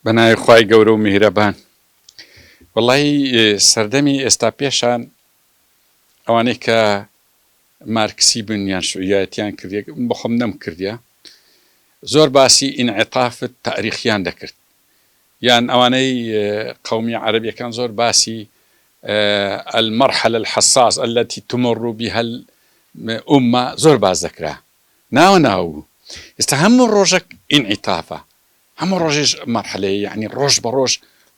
بەناوی خوای گەورە و میهرەبان. وەڵایی سەردەمی ئێستا پێشان ئەوانەی کە مارکسی بن یان شوعیایەتیان کردێک بەخۆم نەم کردە زۆر باسی ئینعتافت تاریخیان دەکرد یان ئەوانەی قومی عەربیەکان زۆر باسی المرحلە الحساس التي تمر بها الأمة زۆر باس دەکرا ناوە ناو ئێستا هەموو ڕۆژەک ئینعتافە هەموو ڕۆژیش مەرحەلەیە یەعنی ڕۆژ بە ڕۆژ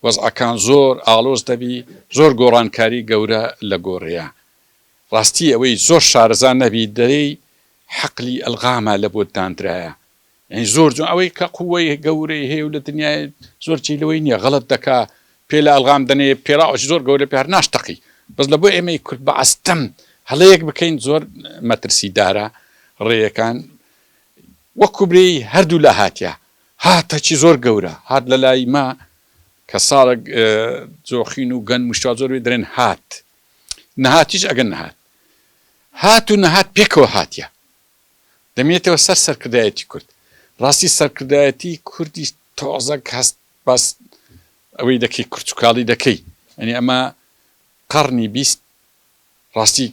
وەزعەکان زۆر ئاڵۆز دەبی زۆر گۆڕانکاری گەورە لە گۆرەیە ڕاستی ئەوەی زۆر شارەزا نەبی دەرێی حەقلی ئەلغامە لە بۆت داندرایە یەعنی زۆر جۆن ئەوەی کە قوەی گەورەی هەیە و لە دنیای زۆر جێی لەوەی نیە غەڵەت دەکا پێ لە ئەلغام دەنێ پێراوەش زۆر گەورە پێ هەر ناشتەقی بەس لە بۆ ئێمەی کورد بە ئەستەم هەڵەیەک بکەین زۆر مەترسیدارە ڕێیەکان وەک کوبرەی هەردوولا هاتیە هاتە چی زۆر گەورە هات لەلای مە کە ساڵێک جۆخین و گەن مشتوا زۆر وێ درێن هات نەهاتیش ئەگەن نەهات هات و نەهات پێکەوە هاتیە دەمێتەوە سەر سەرکردایەتی کورد ڕاستی سەرکردایەتی کوردی تۆزەک هەست بەس ئەوەی دەکەی کورچکاڵی دەکەی ئەنی ئەمە قەڕنی بیست ڕاستی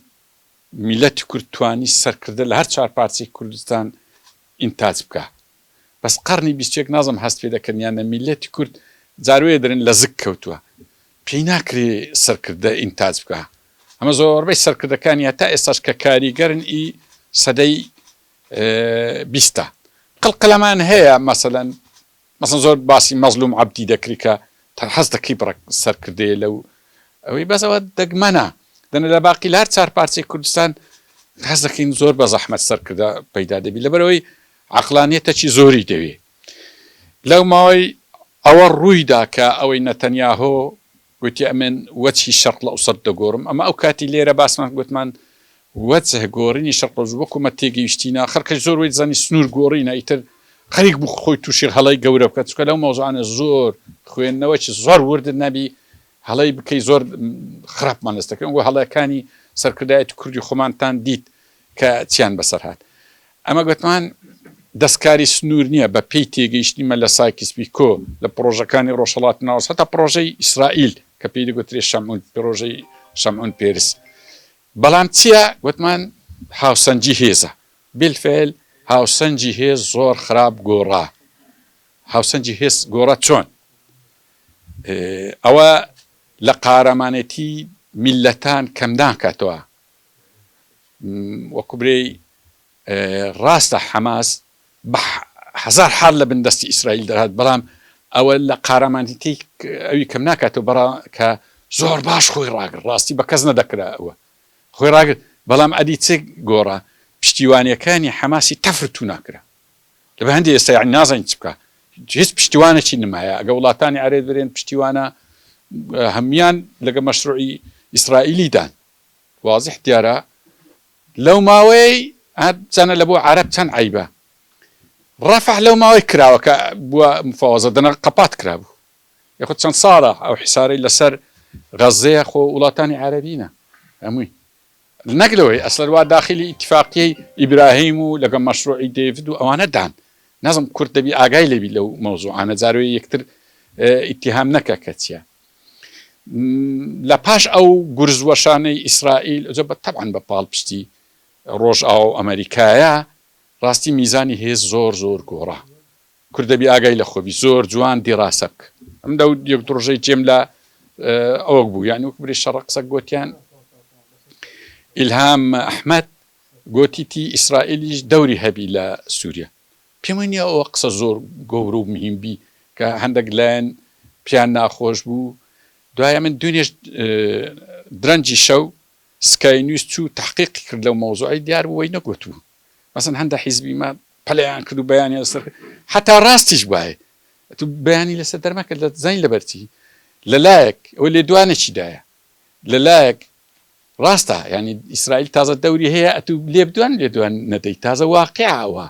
میلەتی کورد توانی سەرکردە لە هەر چار پارچەی کوردستان ئینتاج بکا بەس قەڕنی بیست یەک نازم هەست پێ دەکەن یان نە میلەتی کورد جار وەیە دەرێن لە زگ کەوتوە پێی ناکرێ سەرکردە ئینتاج بکا ئەمە زۆربەی سەرکردەکانی هەتا ئێستاش کە کاریگەرن ئی سەدەی بیستە قلقلەمان هەیە مەسەلەن مەسەن زۆر باسی مەزلوم عەبدی دەکرد کە تە حەز دەکری بڕە سەر کردەیە لەو ئەوی بەس ئەوە دەگ مەنە دەنە لە باقی لار چار پارچەی کوردستان حەز دەکەین زۆر بە زەحمەت سەر کردە پەیدا دەبی لە بەرەوەی عقلانیە تە چی زۆری دەوێ لەو ماوەی ئەوە ڕووی دا کە ئەوەی نەتەنیاهۆ گوتی ئەمن وەچهی شەرق لەوسەت دەگۆرم ئەمە ئەو کاتی لێرە باسمان گوتمان وەچه گۆرینی شەرق لەوسەت وەکو مە تێگەیشتینە خەر کەش زۆر وەی زانی سنور گۆرینە ئیتر خەریک بوو خۆی تووشی هەڵەی گەورە بکە چکە لەو مەوزانە زۆر خوێندنەوە چ زۆر وردت نەبی هەڵەی بکەی زۆر خراپمان لەستەکەن وە هەڵەکانی سەرکردایەتی کوردی خۆمانتان دیت کە چیان بەسەر هات. ئەمە گوتمان دەستکاری سنوور نییە، بە پێی تێگەیشتنی من لە سایکس پیکۆ، لە پڕۆژەکانی ڕۆژهەڵاتی ناوەست هەتا پڕۆژەی ئیسرائیل کە پێی دەگوترێ شەمعون، پڕۆژەی شەمعون پێرس. بەڵام چییە؟ گوتمان هاوسەنگی هێزە. بیلفێل هاوسەنگی هێز زۆر خراپ گۆڕا. هاوسەنگی هێز گۆڕا چۆن؟ ئەوە لە قارەمانێتی میللەتان کەم ناکاتەوە، وەکو برێی ڕاستە حەماس بە هەزار حاڵ لە بن دەستی ئیسرائیل دەهات بەڵام ئەوە لە قارەمانیتی ئەوی کەم ناکاتەوە بەڕا کە زۆر باش خۆی ڕاگر ڕاستی بە کەس نەدەکرا ئەوە خۆی ڕاگر بەڵام ئەدی چ گۆڕە پشتیوانەکانی حەماسی تەفرت و ناکرا لە بە هەندی ئێستا یعنی نازانین چ بکە هیچ پشتیوانەکی نمایە ئەگە وڵاتانی عرێت برێن پشتیوانە هەموان لەگە مەشروعی ئیسرائیلیدان وازح دیارە لەو ماوەیەی ها بزانە لە بۆ عەرەب چەند عەیبە رەفع لەو ماوەی کراوە کە بووە مفاوەزە دەنە قەپات کرابوو یخود چەند ساڵە ئەو حسارەی لەسەر غەزەیە خۆ وڵاتانی عەرەبینە هەمووی نەک لەوەی ئەسلەر وا داخلی ئیتفاقیەی ئیبراهیم و لەگە مەشروعی دەیڤد و ئەوانە دان نەزم کورد دەبی ئاگای لەبی لەو مەوزوعانە جارۆی یەکتر ئیتیهام نەکە کە چیە لە پاش ئەو گورز وەشانەی ئیسرائیل ئەجە بە تەبعەن بە پاڵپشتی ڕۆژئاوا و ئەمەریکایە ڕاستی میزانی هێز زۆر زۆر گۆڕا کورد دەبی ئاگای لە خۆبی زۆر جوان دیڕاسە بکە ئەم دە یەک ڕۆژەی جێم لە ئەوەک بوو یان وەک بری شەڕە قسە گوتیان ئیلهام ئەحمد گوتیتی ئیسرائیلیش دەوری هەبی لە سووریا پێم وای نیە ئەوە قسە زۆر گەورە و مهیم بی کە هەندەک لایەن پێیان ناخۆش بوو دوایە من دوێنێش درەنجی شەو سکای نیوز چوو تحقیقی کرد لەو مەوزوعی دیار بوو وەی نەگوتوو مەسن هەندە حیزبی ما پەلیان کرد و بەیانی لەسەر حتا ڕاستیش بایە تو بەیانی لەسەر دەرمەکە لە زین لەبەرچی لەلایەک ئەوە لێدوانێکی دایە لە لایەک ڕاستە یانی ئیسرائیل تازە دەوری هەیە ئەتوو لێبدوان لێدوان نەدەی تازە واقعە ئەوە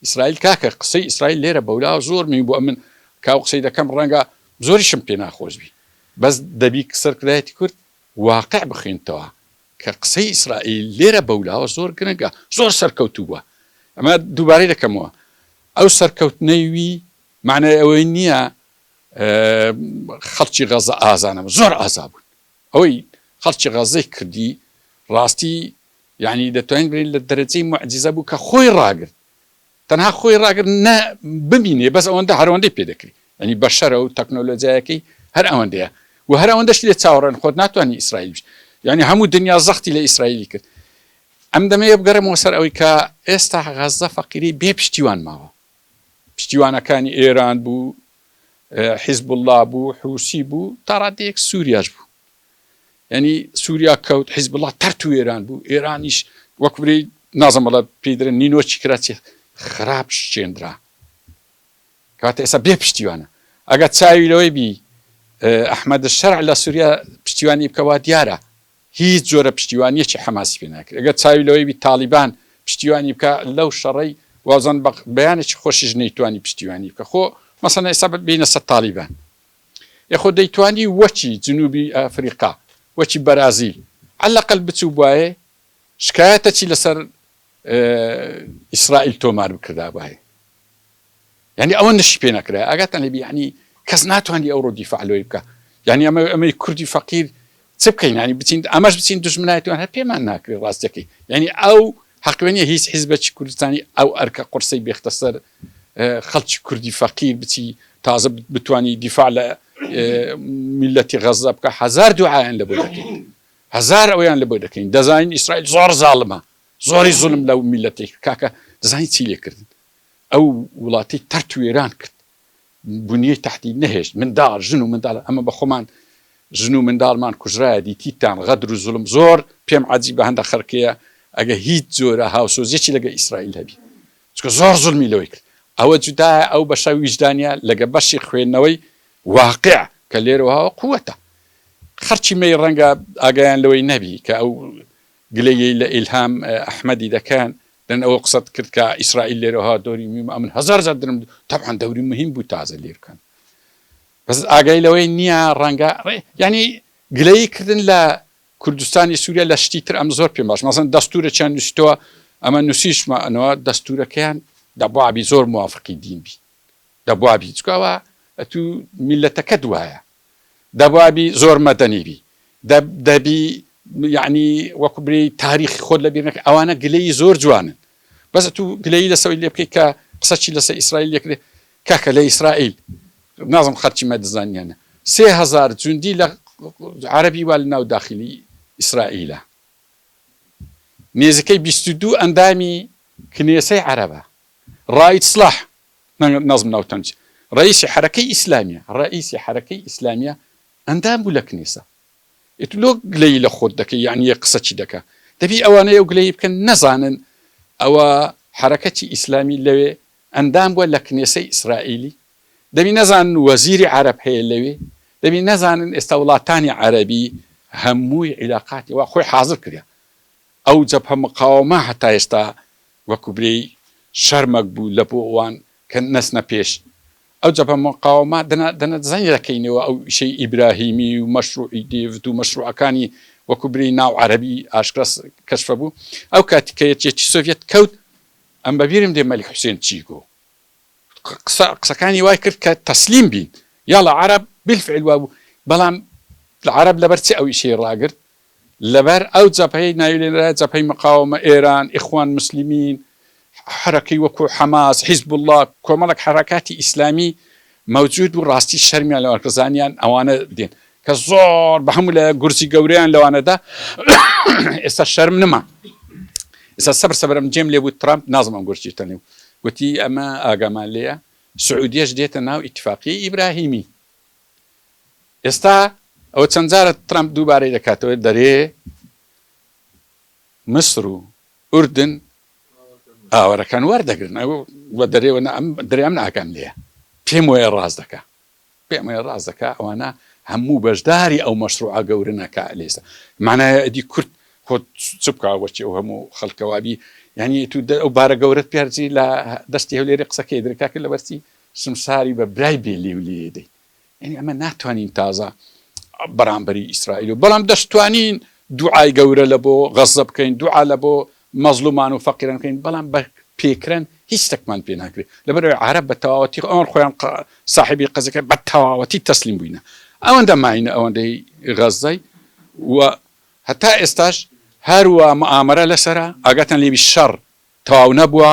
ئیسرائیل کاکە قسەی ئیسرائیل لێرە بەولا زۆر مین بۆ ئەمن کاو قسەی دەکەم ڕەنگە زۆریشم پێ ناخۆش بی بەس دەبی سەرکردایەتی کورد واقع بخوێنتەوە کە قسەی ئیسرائیل لێرە بەولاوە زۆر گرنگە زۆر سەرکەوتوو بووە ئەمە دووبارەی دەکەمەوە ئەو سەرکەوتنەی وی معنای ئەوەی نییە خەڵکی غەزە ئازانەوە زۆر ئازا بوون ئەوەی خەڵکی غەزەی کردی ڕاستی یعنی دەتوانین بین لە دەرەجەی معجززە بوو کە خۆی ڕاگرت تەنها خۆی ڕاگرت نە ببینێ بەس ئەوەندە هەرەوەندەی پێ دەکری ئەنی بەشەرە و تەکنۆلۆجیایەکەی هەر ئەوەندەیە و هەر ئەوەندەش لێ چاوەڕێن خۆت ناتوانانی ئیسرائیل بش یعنی هەموو دنیا زەختی لە ئیسرائیلی کرد ئەم دەمەیە بگەرمەوە سەر ئەوەی کە ئێستا غەزە فەقیری بێ پشتیوان ماوە پشتیوانەکانی ئێران بوو، حیزبوڵڵا بوو، حوسی بوو، تا ڕادەیەک سووریاش بوو. یعنی سووریا کەوت حیزبوڵڵا تەرت و ئێران بوو، ئێرانیش وەک برێی نازم بەڵە پێی درن نینۆچی کرا چێ خراپ شتێنرا. کاتە ئێستا بێ پشتیوانە. ئەگەر چاوی لەوەی بی ئەحمەد شەرع لە سووریا پشتیوانی بکەوە دیارە هیچ جۆرە پشتیوانیەکی حەماسی پێ ناکرێت ئەگەر چاوی لەوەی بی تاڵیبان پشتیوانی بکا لەو شەڕەی وازان بە بەیانێکی خۆشیش نەیتوانی پشتیوانی بکە خۆ مەسەن ئێستا بینە سە تاڵیبان یخۆ دەیتوانی وەکی جنوبی ئەفریقا وەکی بەرازیل عەلەقەل بچوو بواێ شکایەتەکی لەسەر ئیسرائیل تۆمار بکردابواێ یانی ئەوە نشی پێ نەکرای ئاگاتان لێبی یعنی کەس ناتوانانی ئەو ڕۆ دیفاع لۆی بکە یعنی ئەمە ئەمەی کوردی فەقیر چ بکەین ینی بچین ئەمەش بچین دژمنایەتوان هەر پێمان ناکرێت ڕاستەکەی یعنی ئەو حقوێنە هیچ حیزبەکی کوردستانی ئەو ئەرکە قرسی بێختە سەر خەڵکی کوردی فەقیر بچی تازە بتانی دیفاع لە میلەتی غەزە بکە هزار دوعاان لە بۆ دەکەین هزار ئەویان لە بۆ دەکەین دەزانین ئیسرائیل زۆر زاڵمە زۆری زولم لەو میلەتی کاکە دەزانین چی لێکردن ئەو وڵاتی تەرت و وێران کرد بنیەی تەحتی نەهێشت منداڵ ژن و منداڵ ئەمە بەخۆمان ژن و منداڵمان کوژرایە دیتیتان غەدر و زوڵم زۆر پێم عەجیبە هەندە خەرکێە ئەگە هیچ جۆرە هاوسۆزیەکی لەگە ئیسرائیل هەبی چکە زۆر زوڵمی لەوەی کرد ئەوە جودایە ئەو بەشە ویژدانیە لەگە بەشی خوێندنەوەی واقع کە لێرەوە قوەتە خەرکی مەی ڕەنگە ئاگایان لەوەی نەبی کە ئەو گلەیی لە ئیلهام ئەحمەدی دەکەن لەن ئەوە قسەت کرد کە ئیسرائیل لێرە ها دۆری میم ئەمن هەزار جار درم تەبعەن دەوری مهم بوو تازە لیر کەن بەس ئاگای لەوەی نییە ڕەنگە یعنی گلەیی کردن لە کوردستانی سووریا لە شتی تر ئەم زۆر پێم باش مەسن دەستورە چیان نووسیتەوە ئەمە نووسیشمە ئەنەوە دەستورەکەیان دەبوابی زۆر موافقی دین بی دەبوابی چکاوە ئەتوو میلەتەکەت وایە دەبابی زۆر مەدەنی بی دەب دەبی یەعنی وەکو بری تاریخی خۆت لەبیر نەکە ئەوانە گلەیی زۆر جوانن بەس تو گلەیی لەسەوەی لێ بکەی کە قسە چی لەسە ئیسرائیل لێکرێ کاکە لە ئیسرائیل نازم خەرچی مەدزانیانە سێ هزار جوندی لە عربی وا لە ناو داخلی ئیسرائیلە نێزیکەی بیست و دوو ئەندامی کنێسەی عربە ڕایت سلاح نەزم ناوتەنج ڕەئیسی حەرەکەی ئیسلامیە ڕەئیسی حەرەکەی ئیسلامیە ئەندام بوو لە کنیسە ئیتر لۆ گلەیی لە خۆت دەکەی یانی یە قسە چی دەکا دەبی ئەوانەی ئەو گلەیی بکەن نەزانن ئەوە حەرەکەتی ئیسلامی لەوێ ئەندام بووە لە کنێسەی ئیسرائیلی دەبی نەزانن وەزیری عەرەب هەیە لەوێ دەبی نەزانن ئێستا وڵاتانی عەرەبی هەمووی عیلاقاتی وا خۆی حازر کریا ئەو جەبهە مقاوەمە هەتا ئێستا وەکو برێی شەرمەک بوو لە بۆ ئەوان کە نەچنە پێش ئەو جەبهە مقاوەمە دەنا دەنە زەنی دەکەینەوە ئەو ئیشەی ئیبراهیمی و مەشروعی دێڤد و مەشروعەکانی وەکو برێی ناو عەرەبی ئاشکرا کەشفە بوو ئەو کاتی کە یەکێتی سۆڤیەت کەوت ئەم بە بیرم دێ مەلیک حوسێن چی گۆ قسە قسەکانی وای کرد کە تەسلیم بین یاڵا عەرەب بالفعل وابوو بەڵام عەرەب لەبەر چی ئەو ئیشەی ڕاگرت لەبەر ئەو جەبهەیەی ناویلێنرایە جەبهەی مقاوەمە، ئێران، ئیخوان موسلیمین، حەرەکەی وەکوو حەماس، حیزبوڵڵا، کۆمەڵێک حەرەکاتی ئیسلامی مەوجوود بوو، ڕاستی شەرمیان لەوان کرد، زانیان ئەوانە دێن کە زۆر بە هەموو لایەک گورزی گەورەیان لەوانە دا، ئێستا شەرم نەما. ئێستا سەبر سەبر ئەم جێم لێ بوو ترەمپ، نازم ئەم گورجی تەنێ و گوتی ئەمە ئاگامان لێیە سعودیەش دێتە ناو ئیتفاقیەی ئیبراهیمی. ئێستا ئەوە چەند جارە ترەمپ دووبارەی دەکاتەوە دەرێ مصر و ئوردن ئاوەرەکان وەردەگرن ئەو بە دەرێوە دەریان ناکەم لێ پێم وەیە ڕاست دەکە پێم وەیە ڕاست دەکە ئەوانە هەموو بەشداری ئەو مەشروعە گەورنەکە لێستا مانایە ئەدی کورد خۆ چ بکە وەچی ئەو هەموو خەڵکەوابی یعنی تو ئەو بارە گەورەت پیارجی لە دەستی هەولێری قسەکەی درکاکە لە بەرچی سمساری بە برای بێ لێو لێ دەین یانی ئەمە ناتوانین تازە بەرامبەری ئیسرائیل و بەڵام دەشتوانین دوعای گەورە لە بۆ غەزە بکەین دوعا لە بۆ مەزلومان و فەقیران بکەین بەڵام بە پێکران هیچ تەکمان پێ ناکرێت لەبەرەوەی عرب بە تەواوەتی ئەوان خۆیان صاحبی قەزەکە بە تەواوەتی تەسلیم بووینە ئەوەندە ماینە ئەوەندەی غەزەی و هەتا ئێستاش هەروە مامەرە لەسرە ئاگاتان لێوی شەڕ تەواو نەبووە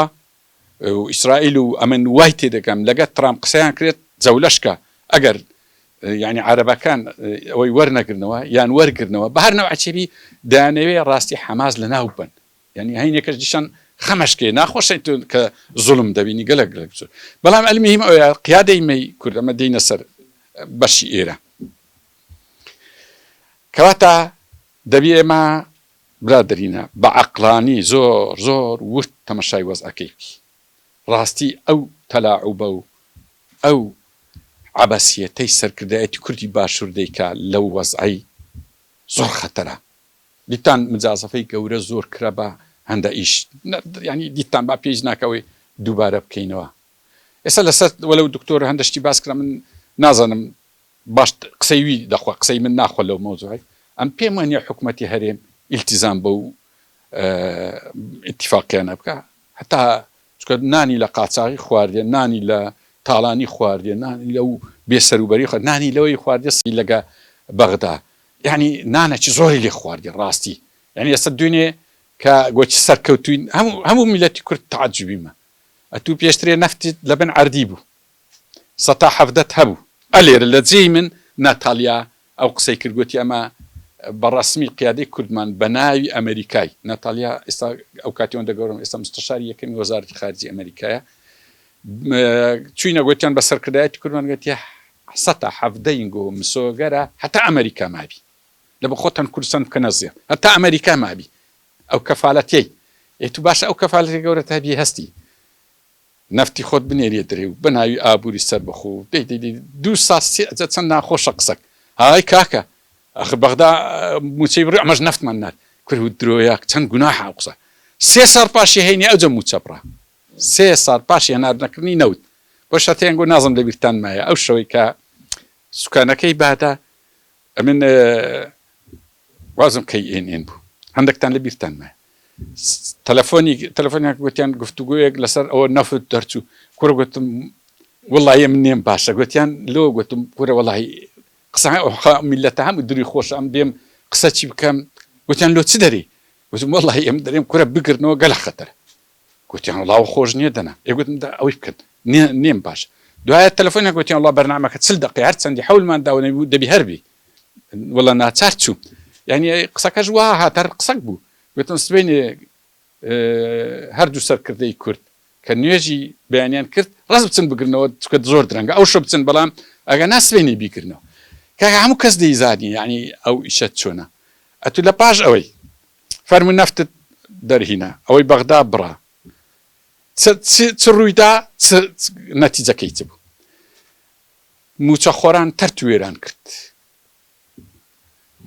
و ئیسرائیل و ئەمن وای تێدەگەم لەگەر تڕامپ قسەیان کرێت جەولەش کە ئەگەر یانی عەرەبەکان ئەوەی وەرنەگرنەوە یان وەرگرنەوە بە هەر نەوعچێبی دانەوێ ڕاستی حەماز لە ناو بن یعنی هەینێکەش دیشان خەمەشکێ ناخۆشە کە زڵم دەبینی گەلە گەلە بچوت بەڵام ئەلمیم ئەوە قیادەی مەی کوردەمە دینە سەر بەشی ئێرە کەواتە دەبی ئێمە برادەرینە بە عەقڵانی زۆر زۆر ورد تەمەشای وەزعەکەی بکی ڕاستی ئەو تەلاعوبە و ئەو عەبەسیەتەی سەرکردایەتی کوردی باشور دەیکا لەو وەزعەی زۆر خەتەرە دیتان مجازەفەی گەورە زۆر کرا بە هەندە ئیش یانی دیتان با پێیش ناکە ئەوەی دووبارە بکەینەوە ئێستا لەسەر وەلەو دکتۆر هەندە شتی باس کرا من نازانم باش قسەی وی دەخوا قسەی من ناخوا لەو مەوزوعەی ئەم پێم وانیە حکومەتی هەرێم ئیلتیزام بەو ئیتیفاقیانە بکا هەتا چکە نانی لە قاچاغی خواردێ نانی لە تاڵانی خواردێ نانی لەو بێسەروبەری خۆ نانی لەوەی خواردێ سی لەگە بەغدا یعنی نانەکی زۆری لێ خواردێ ڕاستی یعنی ئێستا دوێنێ کە گۆچی سەرکەوتوین هەموو هەموو میلەتی کورد تعجبیمە ئەتوو پێشترێ نەفتی لەبن عردی بوو سەتا حەڤدەت هەبوو. ئە لێرە لە جێی من ناتالیا ئەو قسەی کرد گۆتی ئەمە بە ڕەسمی قیادەی کوردمان بە ناوی ئەمەریکای ناتالیا ئێستا ئەو کاتی ئەوەندە گەورە بوو ئێستا مستەشاری یەکەمی وەزارەتی خارجی ئەمەریکایە چووینە گۆتیان بە سەرکردایەتی کوردمان گۆتی سەتا حەڤدەین گۆ مسۆگەرە هەتا ئەمەریکا مابی لە بە خۆتان کوردستان بکەنە زێڕ هەتا ئەمەریکا مابی ئەو کەفالەتیەی ئێ تو باشە ئەو کەفالەتی گەورەت هەبی هەستی نەفتی خۆت بنێریە درەی و بەناوی ئابوری سەربەخۆ و دەی دەی دەی دوو ساس سێ ئەجە چەند ناخۆشە قسەک ئای کاکە ئەخر بەغدا موچەی بڕی ئەمەش نەفتمان نارد کورە و درۆیە چەند گوناحە ئەو قسە سێ ساڵ پاشی هەینی ئەوجە موچە بڕا سێ ساڵ پاشی هەنار نەکردنی نەوت بۆ شەتەیەنگۆ نازم لەبیرتان مایە ئەو شەوەی کە سوکانەکەی بادا ئەمن وازم کەی ئێن ئێن بوو هەندێکتان لە بیرتان مایە تەلەفۆنی تەلەفۆنیان گوتیان گفتوگویەک لەسەر ئەوە نەفت دەرچوو کوڕ گوتم وڵی من نێم باشە گوتیان لۆ گوتم کورە وڵی قسە ئەوخا میلەتە هەموو دری خۆش ئەم دێم قسە چی بکەم گوتیان لۆ چ دەری وزم وڵی ئەم دەرێم کورە بگرنەوە گەلە خەتەر گۆتیان وڵا ئەوە خۆش نیە دەنا ئێ گۆتم دا ئەوەی بکەن نێم باش دوایە تەلەفۆنیان گۆتیان وڵا بەرنامەکە چل دەقەیە هەر چەندی حەولمان داوە نەبوو دەبی هەر بی وەڵا ناچار چووم یعنی قسەکەش وا هات هەر قسەک بوو گۆتم سبەینێ هەردوو سەرکردەی کورد کە نوێژی بەیانیان کرد ڕز بچن بگرنەوە چکە زۆر درەنگە ئەو شە بچن بەڵام ئەگە ناسبێنی بیکردنەوە کاکە هەموو کەس دەیزانی یعنی ئەو ئیشە چۆنە ئەتو لە پاش ئەوەی فەرموو نەفتت دەرهینا ئەوەی بەغدا بڕا چ چ چ ڕوویدا چ نەتیجەکەی چ بوو موچە خۆران تەرت وێران کرد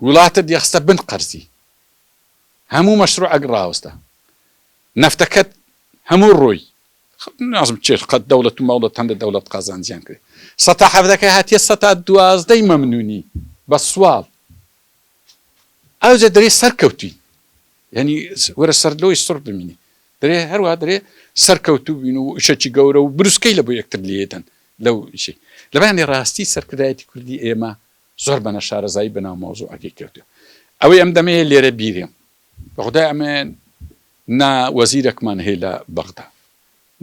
وڵاتە دیخستە بن قەرزی هەموو مەشروع ئەگ ڕاوستە نەفتەکەت هەموو ڕۆی نازم چێت قەت دەوڵەت و مەوڵەت هەندە دەوڵەت قازانجیان کرد سەتا حەفدەکە هاتیە سەتا دوازدەی مەمنونی بە سوال ئاوجە دەرێ سەرکەوتوین یعنی وەرە سەر لۆی سڕ بمینی دەێ هەروە دەێ سەرکەوتو بین و شەچی گەورە و بروسکەی لە بۆ یەکتر لێدەن لەو شی لەبانی ڕاستی سەرکردایەتی کوردی ئێمە زۆر بەە شارەزایی بەناو مۆزوو ئەگەی کردو ئەوەی ئەم دەمەیە لێرە بیرێم بەخدای ئەمێن نا وەزیرەکمان هەیە لە بەغدا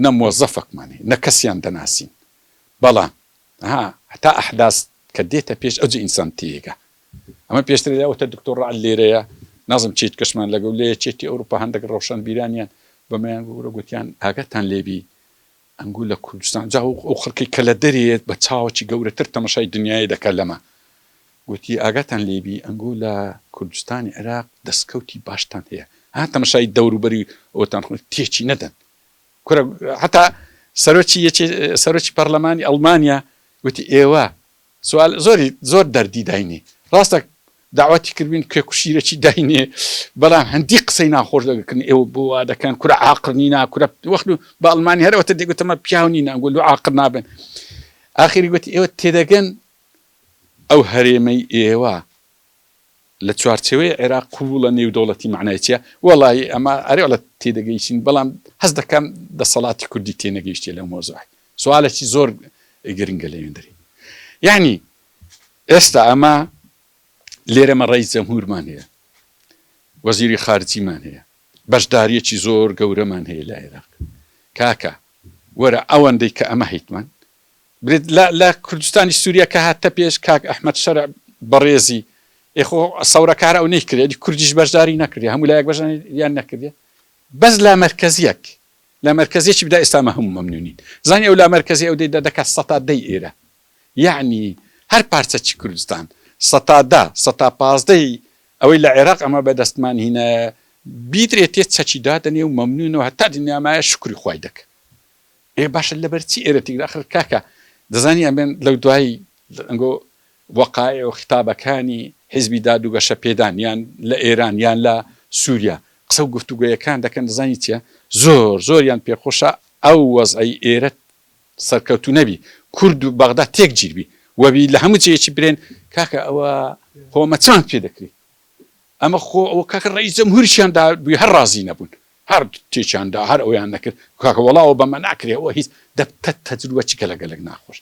نە مۆزەفەکمان هەیە نە کەسیان دەناسین بەڵام ها هەتا ئەحداست کە دێتە پێش ئەوجی ئینسان تێگە ئەمە پێشتر لە وتە دکتۆر رەعد لێرەیە نازم چیت کەشمان لەگەو لە یەکێتی ئەوروپا هەندەک رەوشەن بیرانیان بەمەیان گورە گوتیان ئاگاتان لێبی ئەنگو لە کوردستان جا ئەو خەڵکی کە لە دەرێت بە چاوەکی گەورەتر تەمەشای دنیای دەکە لەمە گوتی ئاگاتان لێبی ئەنگو لە کوردستانی عێراق دەستکەوتی باشتان هەیە ها تەمەشای دەوروبەری ئەوتان خۆ تێچی نەدەن کورە حتا سەرۆکی یەکی سەرۆکی پەرلەمانی ئەڵمانیا وتی ئێوە سوال زۆری زۆر دەردی داینێ ڕاستە داواتی کردین کێ کوشیرەچی داینێ بەڵام هەندی قسەی ناخۆش دەگەکن ئێوە بۆ وا دەکەن کورە عاقڵ نینا کورە وەخت و بە ئەڵمانی هەرەوەتە دەگوتەمە پیاو نینا گوت لو عاقڵ نابن ئاخری گوتی ئێوە تێدەگەن ئەو هەرێمەی ئێوە لە چوارچێوەی عێراق قبوڵە نێودەوڵەتی مەعنای چیە؟ وەڵایی ئەمە ئەرێ وەڵا تێدەگەیشین بەڵام هەست دەکەم دەسەڵاتی کوردی تێنەگەیشتیە لەو مەوزوعەی سوالەکی زۆر گرنگە لە وێندەری یەعنی ئێستا ئەمە لێرەمە ڕئیس جەمهورمان هەیە وەزیری خارجیمان هەیە بەشداریەکی زۆر گەورەمان هەیە لە عێراق کاکە وەرە ئەوەندەی کە ئەمە هیتمان برێت لە لە کوردستانی سوریا کە هاتتە پێش کاک ئەحمەد شەرع بەڕێزی ئێ خۆ سەورەکار ئەو نەیکرێ ئەدی کوردیش بەشداری نەکردێ هەموو لایەک بەشداریان نەکردێ بەس لا مەرکەزیەک لا مەرکەزیەکی بدا ئێستا مە هەموو مەمنونین زانی ئەو لا مەرکەزی ئەو دەی دەکات سەتا دەی ئێرە یعنی هەر پارچەکی کوردستان سەتا دا سەتا پازدەی ئەوەی لە عێراق ئەمە بەدەستمان هینایە بیدرێتێ چەکی دادەنێ و مەمنونەوە هەتا دنیامایە شکری خوای دەکە ئێ باشە لەبەر چی ئێرە تیکدا ئەخر کاکە دەزانی ئەمێن لەو دوایی ئەنگۆ وەقایع و خیتابەکانی حیزبی داد و گەشەپێدان یان لە ئێران یان لە سووریا قسە و گفتوگۆیەکان دەکەن دەزانی چیە زۆر زۆریان پێ خۆشە ئەو وەزعەی ئێرە سەرکەوتوو نەبی کورد و بەغدا تێک جیر بی وەبی لە هەموو جێیەکی برێن کاکە ئەوە خۆمە چۆن پێ دەکری ئەمە خۆ ئەوە کاکە ڕێی جەمهوریشیان دا بووی هەر ڕازی نەبوون هەر تێکیان دا هەر ئەویان دەکرد کاکە وەڵا ئەوە بەمە ناکرێ ئەوە هیچ دە پەت تەجروبە چ گەلە گەلەک ناخۆش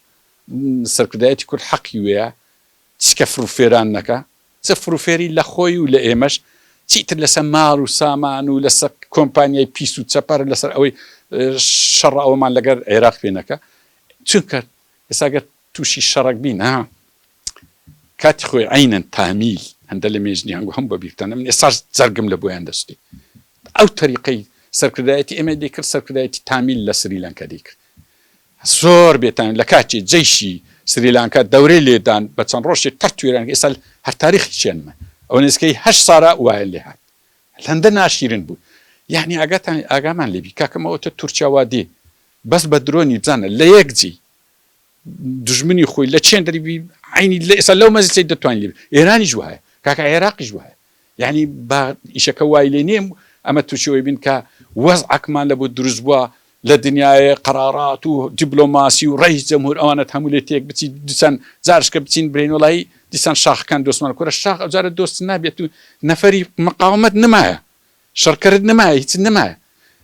سەرکردایەتی کورد حەقی وێە چکە فروفێران نەکا چ فروفێری لە خۆی و لە ئێمەش چیتر لەسە مار و سامان و لەسە کۆمپانیای پیس و چەپەر لەسەر ئەوەی شەڕ ئەوەمان لەگەر عێراق پێ نەکە چونکە ئێساگەر توشی شەڕەک بین ها کاتی خۆی عینەن تامیل هەندە لە مێژنیان گو هەم بە بیرتانم ئێساش جەرگم لە بۆیان دەستی ئەو تەریقەی سەرکردایەتی ئێمە دەیکرد سەرکردایەتی تامیل لە سریلانکە دەیکرد زۆر بێتان لە کاتی جەیشی سریلانکە دەورەی لێدان بە چەند ڕۆژی قەت توێران ئێستا هەر تاریخی چێنمە ئەو نزیکەی هەش سارا وایە لێ هات هەندە ناشیرن بوو یعنی ئاگاتان ئاگامان لێبی کاکەمەوە تە تورکیا وا دێ بەس بە درۆنی بزانە لە یەک جی دوژمنی خۆی لە چێن دەری بی عینی لە ئێستا لەو مەزیسەی دەتوانین لێ ئێرانیش وایە کاکە عێراقیش وایە یعنی با ئیشەکە وای لێ نیم ئەمە تووشەوەی بین کە وەز عکمان لە بۆ دروست بووە لە دنیاە قەرارات و دیبلۆماسی و ڕێی جەمهور ئەوانە هەموو لێ تێک بچی دیسان جارشکە بچین برین وڵی دیسان شاخەکان دۆستمان کورە شاخ ئەوجارە دۆست نابێت و نەفری مقاومت نمایە شەڕکەرت نەمایە هیچت نەمایە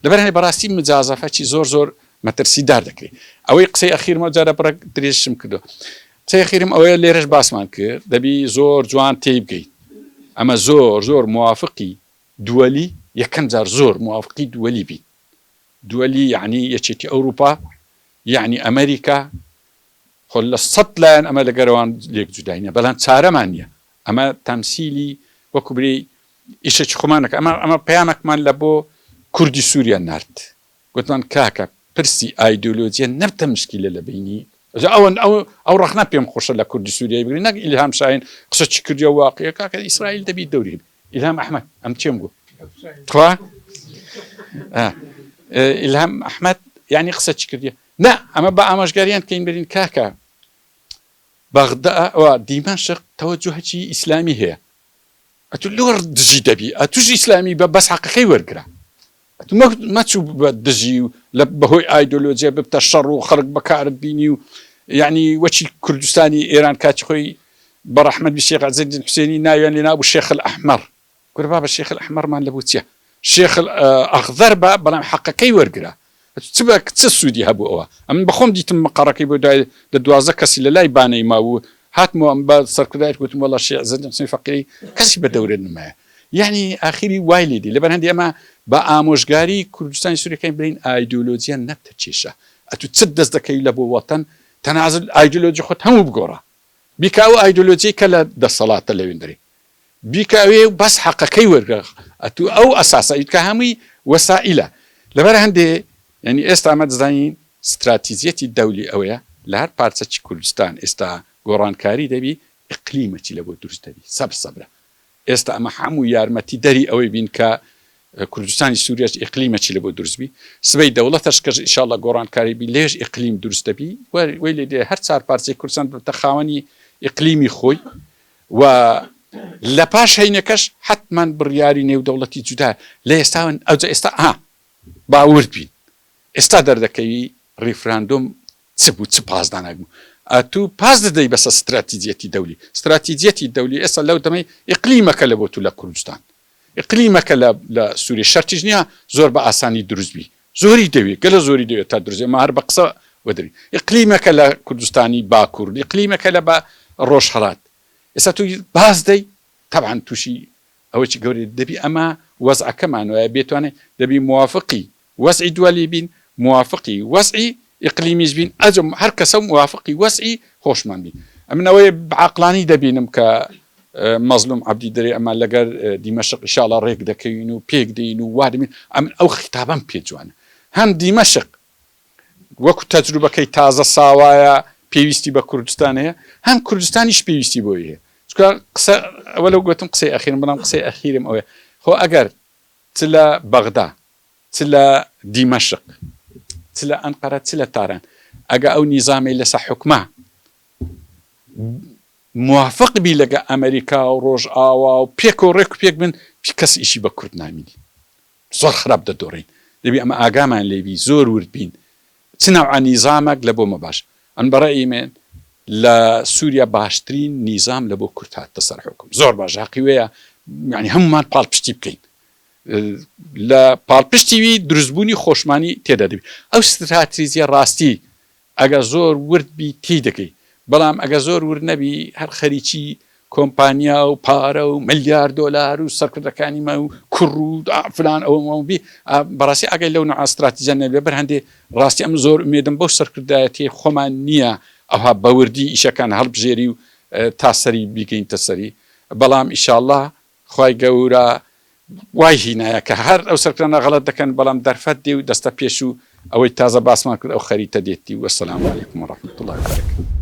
لەبەر هەیە بەڕاستی مجازەفە چی زۆر زۆر مەترسی دار دەکرێ ئەوەی قسەی ئەخیرم ئەو جارە بڕەک درێژشم کردوە قسەی ئەخیرم ئەوەیە لێرەش باسمان کرد دەبی زۆر جوان تێی بگەیت ئەمە زۆر زۆر موافقی دووەلی یەکەم جار زۆر موافقی دووەلی بیت دووەلی یعنی یەکێتی ئەوروپا یعنی ئەمریکا خۆ لە سەد لایەن ئەمە لەگەرەوان لێک جودای نیە بەلام چارەمان نیە ئەمە تەمسیلی وەکو بری ئیشەکی خۆمان نەکە ئەمە ئەمە پەیامەکمان لە بۆ کوردی سوریا نارد گوتمان کاکە پرسی ئایدۆلۆجیە نەبتە مشکیلە لە بینی جا ئەوەن ئەو ئەو ڕەخنە پێم خۆشە لە کوردی سوریای بگری نەک ئیلهام شاین قسە چی کردی و واقعە کاکە ئیسرائیل دەبی دەوری ئیلهام ئەحمد ئەم چێم گو تخوا ئیلهام ئەحمد یعنی قسە چی کردی نا ئەمە با ئامۆژگاریان بکەین برین کاکە بەغدا و دیمەشق تەوەجوهەکی ئیسلامی هەیە ئەتو لۆر دژی دەبی ئەتوش ئیسلامی بە بەس حەقەکەی وەرگرە مەچوو بە دژی و لە بەهۆی ئایدۆلۆجیە ببتە شەڕ و خەرک بەکارت بینی و یعنی وەچی کوردستانی ئێران کاچ خۆی بە ڕەحمەت بی شێخ عزیزی حسێنی ناویان لێ نابوو شێخ ئەحمەر کورە بابە شێخل ئەحمەڕمان لەبوو چیە شێخل ئەخزەر بە بەڵام حەقەکەی وەرگرە چ بە چ سودی هەبوو ئەوە ئەمن بەخۆم دیتم مقەڕەکەی بۆ دوای دە دوازە کەسی لە لای بانەی ماوو هاتمەوە ئەم بە سەرکردایت وتم وەڵا شێ زەنجەنسی فەقیری کەسی بە دەورە نمایە یعنی ئاخیری وای لێدی لەبەر هەندی ئەمە بە ئامۆژگاری کوردستانی سوورەکەی برین ئایدۆلۆجییان نەبتە کێشە ئەتو چت دەست دەکەی لە بۆ وەتەن تەنازل ئایدۆلۆجی خۆت هەموو بگۆڕە بیکە ئەو ئایدۆلۆجی کە لە دەسەڵاتە لەوێندەری بیکە ئەوێ و بەس حەقەکەی وەرگرە ئەتوو ئەو ئەساسە ئیتکە هەمووی وەسائیلە لەبەر هەندێ یعنی ئێستا ئەمە دەزانین ستراتیزیەتی دەولی ئەوەیە لە هەر پارچەکی کوردستان ئێستا گۆڕانکاری دەبی ئقلیمەکی لەبۆ دروست دەبی سەبر سەبرە ئێستا ئەمە هەموو یارمەتی دەری ئەوەی بین کە کوردستانی سووریەش ئقلیمەکی لەبۆ دروست بی سبەی دەوڵەتەش کەش ئیشاڵە گۆڕانکاری بی لێش ئقلیم دروست دەبی وەی لێ دێ هەر چار پارچەی کوردستان بتە خاوەنی ئقلیمی خۆی و لە پاش هەینەکەش حەتمەن بڕیاری نێودەوڵەتی جودا لە ئێستا وەن ئەوجە ئێستا ئا با ورد بین ئێستا دەردەکەوی ریفراندۆم چ بوو چ پاس داناک بوو ئەتو پاس دەدەی بەسە ستراتیجیەتی دەولی ستراتیجیەتی دەولی ئێستا لەو دەمەی ئیقلیمەکە لە بۆ تو لە کوردستان ئیقلیمەکە لە لە سوریە شەرتیش نیە زۆر بە ئاسانی دروست بی زۆری دەوێ گەلە زۆری دەوێت تا دروست ئێمە هەر بە قسە وەدرین ئیقلیمەکە لە کوردستانی باکور ئیقلیمەکە لە بە ڕۆژ هەڵات ئێستا تو باز دەی تەبعەن تووشی ئەوەی گەورەی دەبی ئەمە وەزعەکەمان وایە بێتوانێت دەبی موافقی وەزعی دوەلی بین موافقی وەزعی ئیقلیمیش بین ئەجۆ هەر کەسەو موافقی وەزعی خۆشمان بین ئەمن ئەوەی بەعەقلانی دەبینم کە مەزلوم عەبدی دەرێ ئەمان لەگەر دیمەشق ئیشاڵا رێک دەکەوین و پێک دێین و وا دەبین ئەمن ئەو خیتابەم پێ جوانە هەم دیمەشق وەکو تەجروبەکەی تازە ساوایە پێویستی بە کوردستان هەیە هەم کوردستانیش پێویستی بۆی هەیە چکە قسە ئەوە لەو گوتم قسەی ئەخیرم بەڵام قسەی ئەخیرم ئەوێ خۆ ئەگەر چ لە بەغدا چ لە دیمەشق چ لە ئەنقەرە چ لە تاران ئەگە ئەو نیزامەی لەسە حکومە موافق بی لەگە ئەمریکا و ڕۆژ ئاوا و پێک و ڕێک و پێک بن پی کەس ئیشی بە کورد نامینی زۆر خراپ دەدۆڕین دەبی ئەمە ئاگامان لێبی زۆر ورد بین چ ناوعە نیزامەک لە بۆمە باش ئەن بەڕێی من لە سووریا باشترین نیزام لە بۆ کورت هاتە سەر حکم زۆر باش حقی وەیە یعنی هەمومان پاڵ پشتی بکەین لە پاڵپشتی وی دروستبوونی خۆشمانی تێدا دەبی. ئەو ستراتیجیە ڕاستی ئەگەر زۆر ورد بی تێی دەگەی، بەڵام ئەگەر زۆر ورد نەبی هەر خەریکی کۆمپانیا و پارە و ملیار دۆلار و سەرکردەکانی مە و کوڕ و فلان ئەوم ئەوم بی، بەڕاستی ئاگای لەو نوعە ستراتیجیە نەبی، لەبەر هەندێ ڕاستی ئەمن زۆر ئومێدم بەو سەرکردایەتیەی خۆمان نیە ئەوها بە وردی ئیشەکان هەڵبژێری و تا سەری بیگەینتە سەری، بەڵام ئیشاڵڵا خوای گە ورە وای هینایە کە هەر ئەو سەرکردانە غەڵەت دەکەن بەڵام دەرفەت دێ و دەستە پێشو ئەوەی تازە باسمان کرد ئەو خەریتە دێتی و سلام علیکم و رحمت اللە وبرکاته.